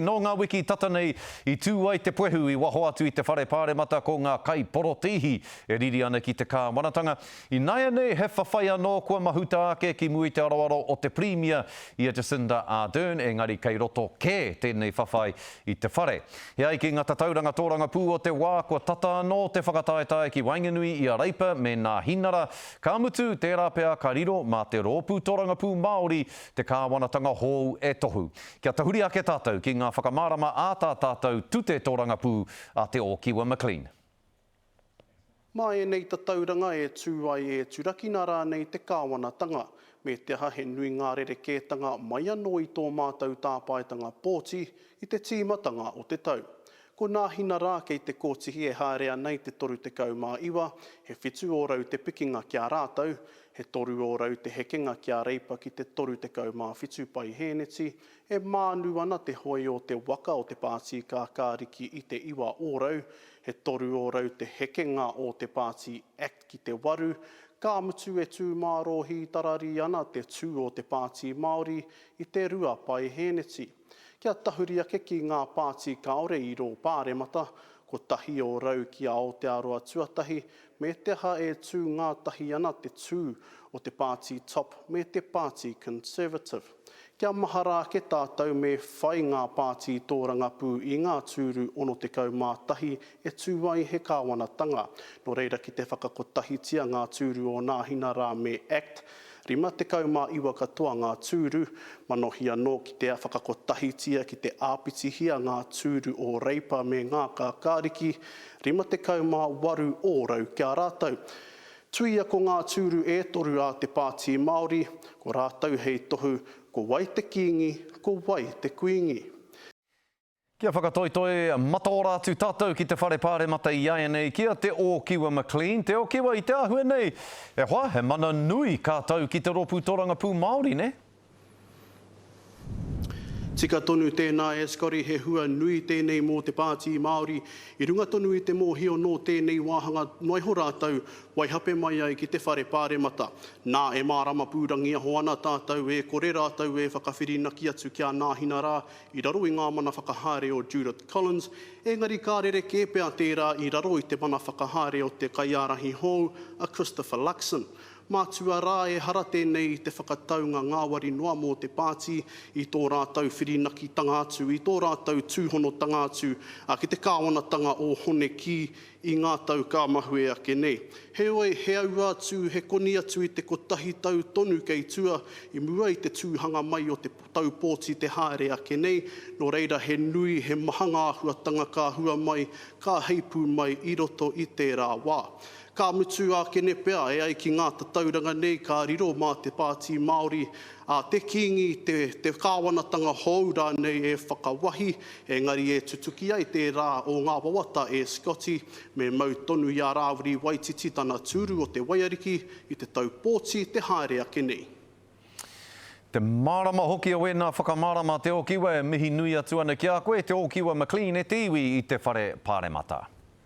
Nō ngā wiki tata nei, i tū ai te puehu i waho atu i te whare pāremata ko ngā kaiporotēhi e riri ana ki te kāwanatanga. I nāianei he whawhai anō kua mahuta ake ki mua i te aroaro o te Pirimia i a Jacinda Ardern engari kei roto kē tēnei whawhai i te whare. E ai ki ngā tatauranga tōrangapū o te wā kua tata anō te whakataetae ki waenganui i a Reipa me Nāhinara, ka mutu tērā pea ka riro mā te Rōpū Tōrangapū Māori te kāwanatanga hou e tohu. Kia tahuri ake tātou ki ngā whakamārama ā tā tātou tute tōrangapū a Te Ōkiwa McLean. Mā ēnei tatauranga e tū ai e turakina rānei te kāwanatanga, me te aha he nui ngā rerekētanga mai anō i tō mātou tāpaetanga pōti i te tīmatanga o te tau. Ko nā hina rā kei te kōtihi e haere ana i te 39, he whitu ōrau te pikinga ki a rātou, he toru ōrau te hekenga ki a Reipa ki te 37 paihēneti, e mānu ana te hoe o te waka o te pātī kākāriki i te iwa ōrau, he toru ōrau te hekenga o te pātī act ki te waru, ka mutu e tū mārō hītararī ana te tū o te pātī Māori i te rua paihēneti. Kia tahuri ake ki ngā pāti kāore i rō Pāremata, kotahi o rau ki a Aotearoa Tuatahi, me te aha e tū ngātahi ana te tū o te pāti Top me te pāti Conservative. Kia mahara ake tātou me whai ngā pāti tōrangapū i ngā tūru 61 e tū ai he kāwanatanga, nō reira ki te whakakotahitia ngā tūru o Nāhina rā me Act 59 katoa ngā tūru, manohia nō ki te whakakotahitia ki te āpitihia ngā tūru o Reipa me ngā Kākāriki, 58 ōrau ki a rātou. Tuia ko ngā tūru e toru a te Pāti Māori, ko rātou hei tohu, ko wai te Kīngi, ko wai te Kuīngi. Kia whakatoitoi mataora atu tātou ki te Whare Pāremata iaianei ki a Te Ōkiwa McLean. Te Ōkiwa, i te āhua nei, e hoa, he mana nui kā tau ki te Rōpū Torangapū Māori, nē? Tika tonu tēnā e Scotty, he hua nui tēnei mō te Pāti Māori. I runga tonu i te mōhio nō tēnei wāhanga noaiho rātou, waihape mai ai ki te Whare Pāremata. Nā, e mārama pūrangiaho ana tātou e kore rātou e whakawhirinaki atu kia nāhina rā i raro i ngā mana whakahaere o Judith Collins, engari ka rerekē pea tērā i raro i te mana whakahaere o te kaiārahi hou a Christopher Luxon. Mātua rā ehara tēnei i te whakataunga ngāwari noa mō te pāti i tō rātou whirinakitanga atu, i tō rātou tūhonotanga atu ki te kāwanatanga o Hone Kī i ngā tau ka mahue ake nei. Heoi, he aua atu, he koni atu i te kotahi tau tonu kei tua i mua i te tūhanga mai o te Taupōti te haere ake nei, nō reira he nui, he maha ngā āhuatanga ka hua mai, ka heipū mai i roto i tērā wā. Ka mutu ākene pea, e ai ki ngā tatauranga nei ka riro mā te Pāti Māori, ā, te Kīngi, te, te kāwanatanga hou rānei e whakawahi, engari e tutuki ai tērā o ngā wawata e Scotty, me mau tonu i a Rāwiri Waititi tana tūru o te waiariki i te taupōti te haere ake nei. Te mārama hoki o ēnā whakamārama Te Ōkiwa e mihi nui atu ana ki a koe Te Ōkiwa McLean e te iwi i te Whare Pāremata.